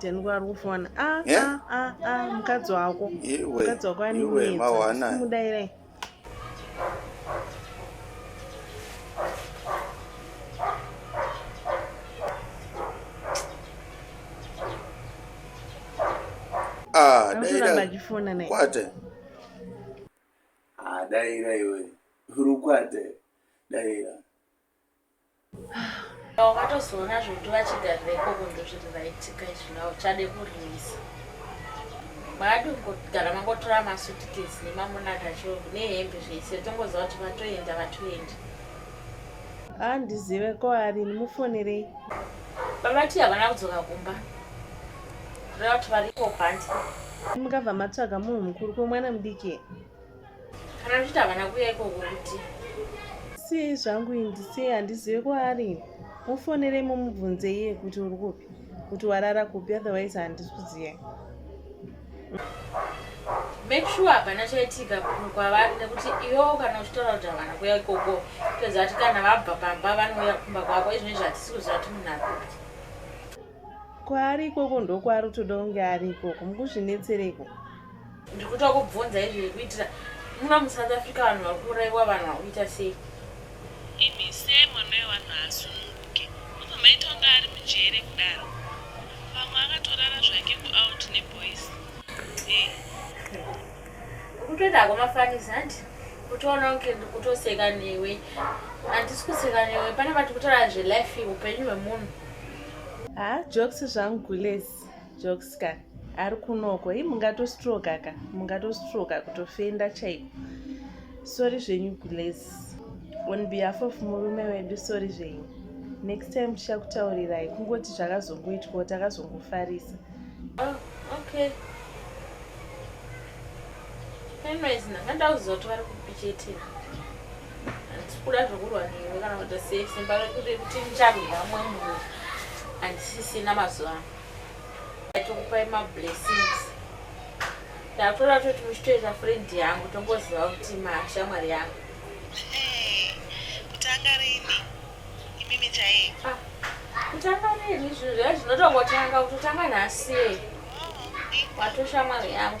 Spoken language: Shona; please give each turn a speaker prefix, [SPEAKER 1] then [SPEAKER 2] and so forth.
[SPEAKER 1] Denwa ari kufona. Ah, Yeah. ah, ah, ah, mukadzi wako. Iwe, Mukadzi wako ane iwe, minetsa. mawana. Kumuda here? Ah, Ari kuramba daira achifona naye. kwate. Ah, daira iwe. Uri kwate. Daira. Wakatozoona zvokuti vachigarira kunze zviri zvaitika izvi na uchade kurivisa mwaadi kungogara mangotora masutikesi nemamonaka chove nehembe zvese tongoziva kuti vatoenda vatoenda handizive ko ari mufonerei vavati havana kudzoka kumba reva kuti variko kwanzi mukabva matsvaga munhu mukuru kwemwana mudiki kana ndichiti havana kuuya ikoko kuti siyei zvangu indisiyei handizive kwaari mufonerei mumubvunze iye kuti uri kupi kuti warara kupi otherwise handisi kuziyai make sure hapana chaitika kwavari nekuti iwewo kana uchitaura kuti havana kuya ikoko toziva kuti kana vabva pamba vanouya kumba kwako izvine zvatisi kuziva kuti munhu akupi kwaari ikoko ndokwaari utoda kunge ari ikoko mukuzvinetsereko ndiri kuita kubvunza izvi kuitira muno musouth africa vanhu vari kuuraiwa vanhu vari kuita sei imi se mwana wevanhu haasununguke obva maita kunge ari mujere kudaro pamwe akatorara zvake kuout neboys eh. kutoita hako mafanisi hanti kutoona kunge ndikutoseka newe handisi kuseka newe pane vati kutaura zvelife upenyu hwemunhu haa jokes zvangu gules jokes ka ari kunoko i mungatostroka ka mungatostroka kutofenda chaiko sori zvenyu gules on behalf of murume wedu sori zvenyu next time tichakutaurirai kungoti zvakazongoitwawo takazongofarisa oh, okay anyways ndanga ndauziva kuti vari kupichetea kuda zvokurwa newe kana kuita sei simba rekuti kuti ndicharwira mumwe munhu handisisina mazuva ano aitokupai mablessings ndakutoda kutoti muchitoita friend yangu tongoziva kuti mashamwari yangu kutanga rini imimi chai ah, kutanga rini zvinhu zva zvinotongotanga kutotanga nhasi oh, watoshamwari yangu